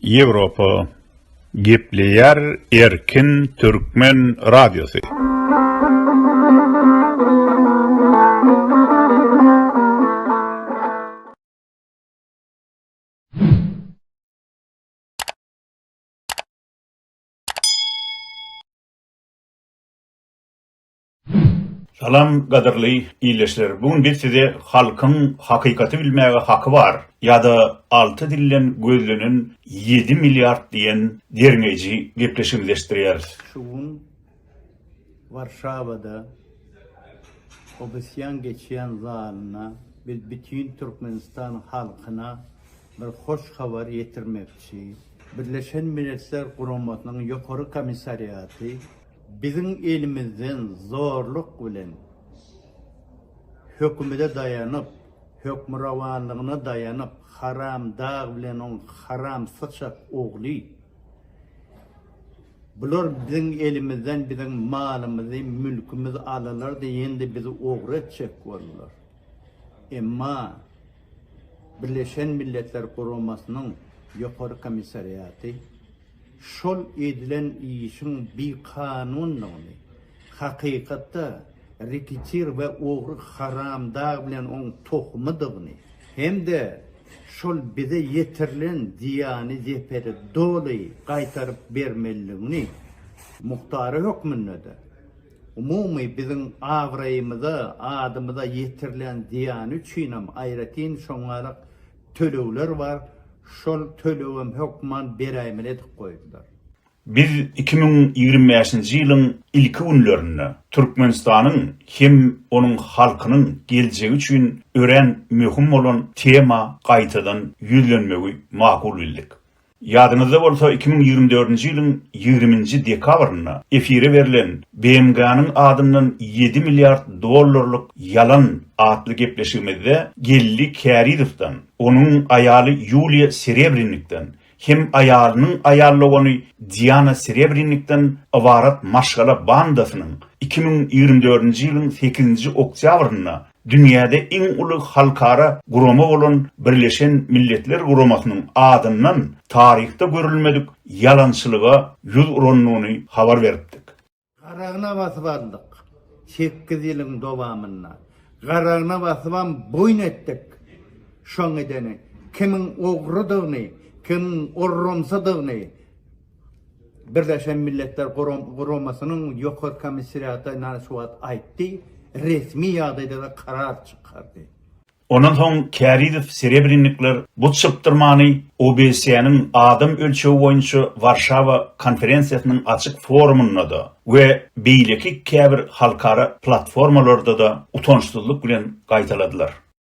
Ýewropa gepleýär erkin türkmen radiosy. Salam gadyrly ildeşler bu gün biz size halkyň hakykaty bilmäge haky bar ýada alty dilden gözlenen ýedi milliard diýen derňeýji gepleşigini leşdirýäris. Şu gün Warşawada Obysýan geçýän zalynda biz bütin Türkmenistan halkyna bir hoş habar ýetirmekçi. Birleşen Milletler Guramasynyň Ýokary Komissariaty, Biziň elimizden zorluk bilen hökümede daýanyp, hökmürowanlygyna daýanyp, haram dag bilen oň haram syçak ogly, bular biziň elimizden biziň malymyzy, mülkümizi alalardy, indi bizi ogry etjek boldular. Emma Birleşen Milletler Guramasynyň Ýokary komissariaty, şol edilen işiň bikanundygyny, hakykatda reketir we ogry haramdag bilen oň tohumydygyny hem-de şol bize ýetirilen zyýany zeperi doly gaýtaryp bermelidigini, muhtary hökmünde-de, umumy biziň abraýymyza, adymyza ýetirilen zyýany üçinem aýratyn şoňňarak tölegler bar, şol tölegem hökman beräýmeli edip goýdular. Biz iki müň ýigrimi bäşinji ýylyň ilki günlerinde Türkmenistanyň hem onuň halkynyň geljegi üçin örän möhüm bolan tema gaýtadan ýüzlenmegi makul bildik. Ýadyňyzda bolsa, iki müň ýigrimi dördünji ýylyň ýigriminji dekabrynda efire berlen BMG-niň adyndan ýedi milliard dollarlyk ýalan atly gepleşigimizde geldi Kärizowdan, onuň aýaly Ýuliýa Serebrinnikden hem aýalynyň aýal dogany Diana Serebrinnikden ybarat maşgala bandasynyň iki müň ýigrimi dördünji ýylyň sekizinji oktýabrynda dünýäde iň uly halkara gurama bolan Birleşen Milletler Guramasynyň adyndan taryhda görülmedik ýalançylyga ýüz urandygyny habar beripdik. Garagyna basyp aldyk. Sekiz ýylyň dowamynda garagyna basybam boýun etdik. Şoň edeni kimiň ogrydygyny, kimiň orramsydygyny. Birleşen Milletler Guramasynyň Ýokary Komissariaty ynha şu wagt aýtdy, resmi ýagdaýda-da karar çykardy. Ondan soň Kärizow Serebrennikler bu çypdyrmany OBSE-niň adam ölçegi boýunça Warşawa konferensiýasynyň açyk forumynda-da we beýleki käbir halkara platformalarda-da utançsyzlyk bilen gaýtaladylar.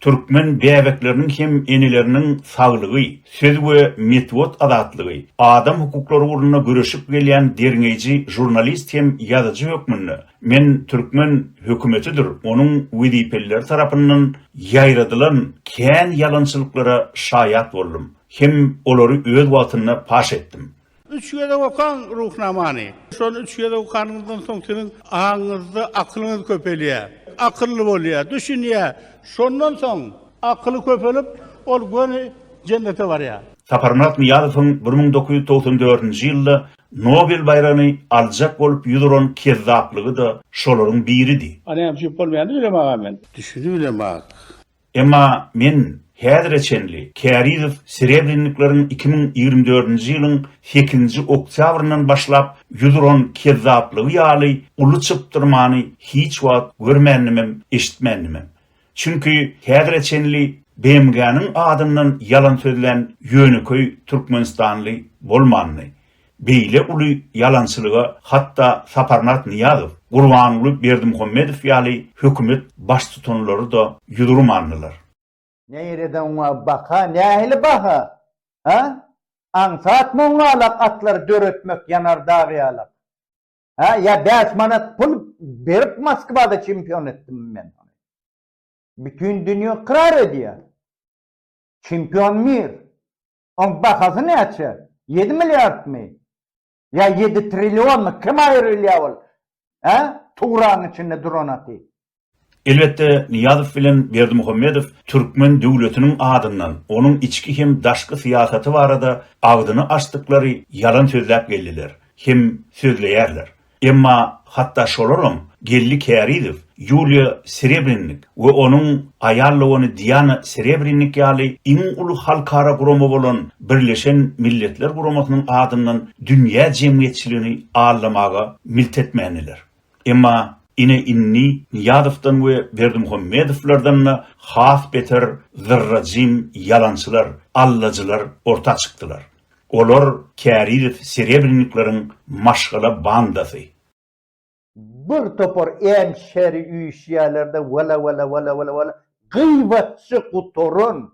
Türkmen bäbekleriniň hem eneleriniň saglygy, söz we metbuat azatlygy, adam hukuklary ugrunda göreşip gelýän derňeýji žurnalist hem ýazyjy hökmünde men türkmen hökümetidir onuň wezipelileri tarapyndan ýaýradylan kän ýalançylyklara şaýat boldum hem olary öz wagtynda paş etdim. Üç gezek okaň Ruhnamany. Şony üç gezek okanyňyzdan soň siziň aňyňyzda akylyňyz köpelýär. Akylly bolýar, düşünýär. Şondan soň akyly köpelip, ol göni Jennete barýar. Saparmyrat Nyýazowyň bir müň dokuz ýüz togsan dördünji ýylda Nobel baýragyny aljak bolup ýüz uran kezzaplygy-da şolaryň biridi. Anam süýüp bolmaýandy bilemag-a men. Düşünibilemag. Emma men häzire çenli Kärizow Serebrennikleriň iki müň ýigrimi dördünji ýylyň sekizinji oktýabryndan başlap ýüz uran kezzaplygy ýaly uly çypdyrmany hiç wagt görmändimem, eşitmändimem. Çünki häzire çenli BMG-niň adyndan ýalan sözlän ýönekeý türkmenistanly bolmandy. Beýle uly ýalançylyga hatda Saparmyrat Nyýazow, Gurbanguly Berdimuhamedow ýaly hökümet baştutanlary-da ýüz urmandylar. Neýrede oňa baha, nähili baha? Hä? Aňsat moňňalak atlary döretmek ýanar dag ýalak. Hä, ýa bäş manat pul berip Moskwada çempion etdimmi men ony? Bütin dünýä ykrar edýär. Çempion mir. Oň bahasy näçe? Ýedi milliardmy? Ýa ýedi trillionmy? Kim aýrylýa ol? Hä? Tugraň içinde duranaty. Elbetde, Nyýazow bilen Berdimuhamedow türkmen döwletiniň adyndan, onuň içki hem daşky syýasaty barada agzyny açdyklary ýalan sözläp geldiler, hem sözleýärler. Emma hatda şolaram gelni Kärizow, Ýuliýa Serebrinnik we onuň aýal dogany Diana Serebrinnik ýaly iň uly halkara gurama bolan Birleşen Milletler Guramasynyň adyndan dünýä jemgyýetçiligini aldamaga milt etmändiler. Emma ine indi Nyýazowdan we Berdimuhammedowlardan-da has beter zyrra-jym ýalançylar, allajylar orta çykdylar. Olar Kärizow Serebrennikleriň maşgala bandasy. Bir topar en şeri üýşýärlerde wala wala wala wala wala gyýbatçy gutaran.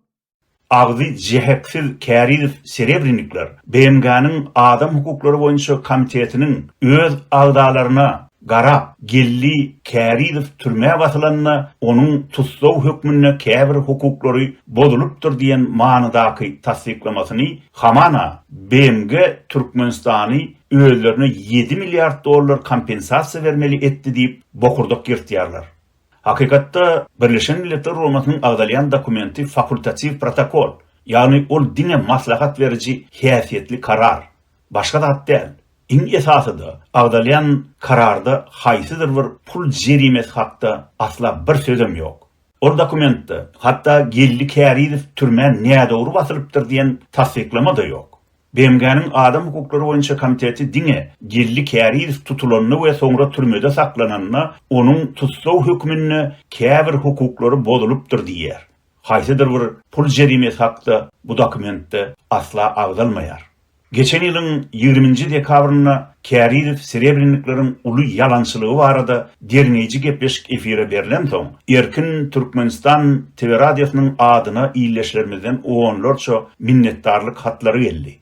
Agzy jeheksiz Kärizow Serebrennikler BMG-niň adam hukuklary boýunça komitetiniň öz agzalaryna Gara Geldi Kärizow türmä basylanda, onuň tussag hökmünde käbir hukuklary bozulypdyr diýen manydaky tassyklamasyny hamana BMG Türkmenistany özlerine ýedi milliard dollar kompensasiýa bermeli etdi diýip bokurdak ýyrtýarlar. Hakykatda, Birleşen Milletler Guramasynyň agzalýan dokumenti fakultatiw protokol, ýagny ol diňe maslahat beriji häsiýetli karar. Başga zat däl. Iň esasy-da, agzalýan kararda haýsydyr bir pul jerimesi hakda asla bir sözem ýok. Ol dokumentde, hatda Geldi Kärizow türmä nädogry basylypdyr diýen tassyklama-da ýok. BMG-niň Adam hukuklary boýunça komiteti diňe Geldi Kärizow tutulanda we soňra türmede saklananda onuň tussag hökmünde käbir hukuklary bozulypdyr diýýär. Haýsydyr bir pul jerimesi hakda bu dokumentde asla agzalmaýar. Geçen ýylyň ýigriminji dekabrynda Kärizow serebrennikleriň uly ýalançylygy barada derňeýji gepleşik efire berlensoň, Erkin Türkmenistan TV radiosynyň adyna ildeşlerimizden onlarça minnetdarlyk hatlary geldi.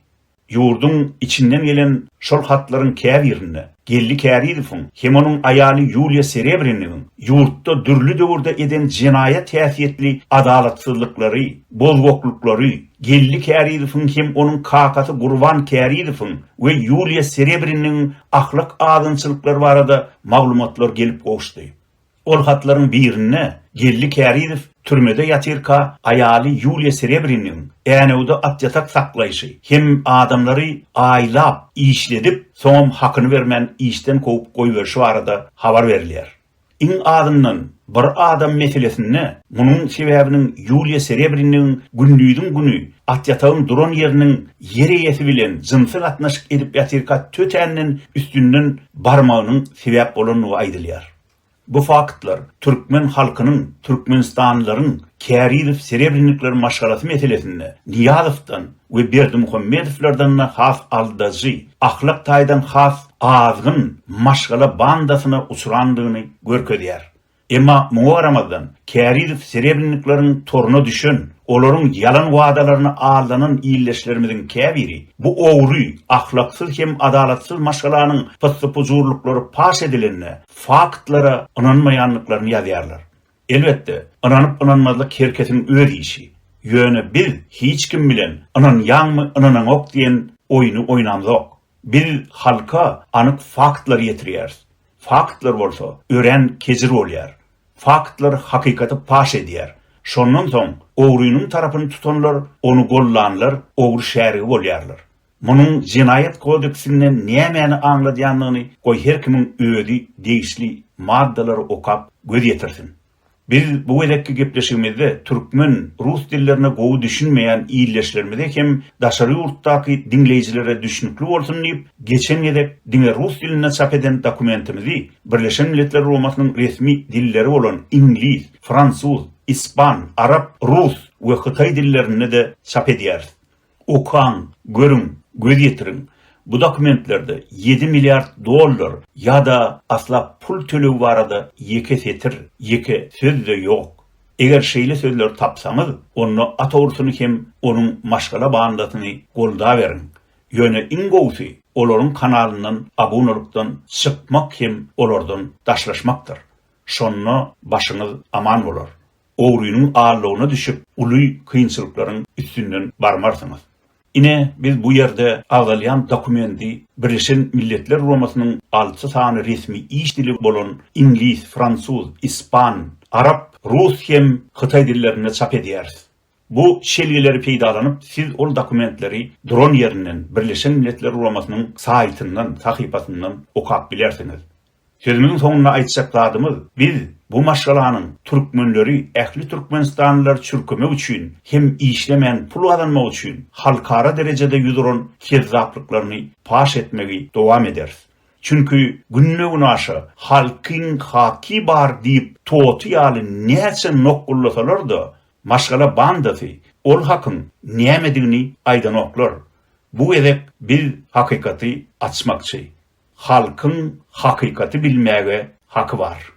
Ýurduň içinden gelen şol hatlaryň käbirinde, Geldi Kärizowyň hem onuň aýaly Ýuliýa Serebrenigiň ýurtda dürli döwürde eden jenaýat häsiýetli adalatsyzlyklary, bozgaklyklary, Geldi Kärizowyň hem onuň kakasy Gurban Kärizowyň we Ýuliýa Serebrenigiň ahlak azynçylyklary barada maglumatlar gelip gowuşdy. Ol hatlaryň birinde Geldi Kärizow türmede ýatyrka aýaly Ýuliýa Serebriniň Änewde atýatak saklaýşy hem adamlary aýlap, işledip, soňam hakyny bermän işden kowup goýberşi barada habar berilýär. Iň azyndan bir adam meselesinde munuň sebäbiniň Ýuliýa Serebriniň gündiziň güni atýatagyň duran ýeriniň ýer eýesi bilen jynsy gatnaşyk edip ýatyrka tötänden üstünden barmagynyň sebäp bolandygy aýdylýar. Bu faktlar türkmen halkynyň türkmenistanlylaryň Kärizow-Serebrenikiler maşgalasy meselesinde Nyýazowdan we Berdimuhamedowlardan-da has aldajy, ahlak taýdan has azgyn maşgala bandasyna uçrandygyny görkezýär. Emma muňa garamazdan, Kärizow-Serebrenikleriň toruna düşen Olaryň ýalan wadalaryna aldanan ildeşlerimiziň käbiri bu ogry, ahlaksyz hem adalatsyz maşgalanyň pyssy-pujurlyklary paş edilende faktlara ynanmaýandyklaryny ýazýarlar. Elbetde, ynanyp-ynanmazlyk her kesiň öz işi. Ýöne biz hiç kim bilen ynanýaňmy-ynanaňok diýen oýny oýnamzok. Biz halka anyk faktlary ýetirýäris. Faktlar bolsa örän kejir bolýar. Faktlar hakykaty paş edýär. Şondan soň ogrynyň tarapyny tutanlar, ony gollanlar ogry şärigi bolýarlar. Munuň Jenaýat kodeksinde nämäni aňladýandygyny goý her kimiň özi degişli maddalary okap göz ýetirsin. Biz bu gezekki gepleşigimizde türkmen, rus dillerine gowy düşünmeýän ildeşlerimize hem daşary ýurtdaky diňleýjilere düşnükli bolsun diýip, geçen gezek diňe rus dilinde çap eden dokumentimizi Birleşen Milletler Guramasynyň resmi dilleri bolan iňlis, fransuz, ispan, arap, rus we hytaý dillerinde-de çap edýäris. Okaň, görüň, göz ýetiriň, bu dokumentlerde ýedi milliard dollar ýa-da asla pul tölegi barada ýeke setir, ýeke söz-de ýok. Eger şeýle sözleri tapsaňyz, onda Atawrusyny hem onuň maşgala bandasyny goldaweriň. Ýöne iň gowusy, olaryň kanalyndan abunalykdan çykmak hem olardan daşlaşmakdyr. Şonda başyňyz aman bolar. ogrynyň aldygyna düşüp, uly kynçylyklaryň üstünden barmarsyňyz. Ine, biz bu ýerde agzalýan dokumenti Birleşen Milletler Guramasynyň alty sany resmi iş dili bolan iňlis, fransuz, ispan, arap, rus hem hytaý dillerinde çap edýäris. Bu şelgeleri peýdalanyp, siz ol dokumentleri duran ýerinden, Birleşen Milletler Guramasynyň saýtyndan, sahypasyndan okap bilersiňiz. Sözümiň soňunda aýtjak zadymyz, biz bu maşgalanyň türkmenleri ähli türkmenistanlylary çürkemek üçin hem işlemän pul gazanmak üçin halkara derejede ýüz uran kezzaplyklarny paş etmegi dowam ederis. Çünki günbe-gün aşa Halkyň haky bar diýip toty ýaly näçe nokgullasalar-da, maşgala bandasy ol hakyň nämedigini aýdanoklar. Bu gezek biz hakykaty açmakçy. Halkyň hakykaty bilmäge haky bar.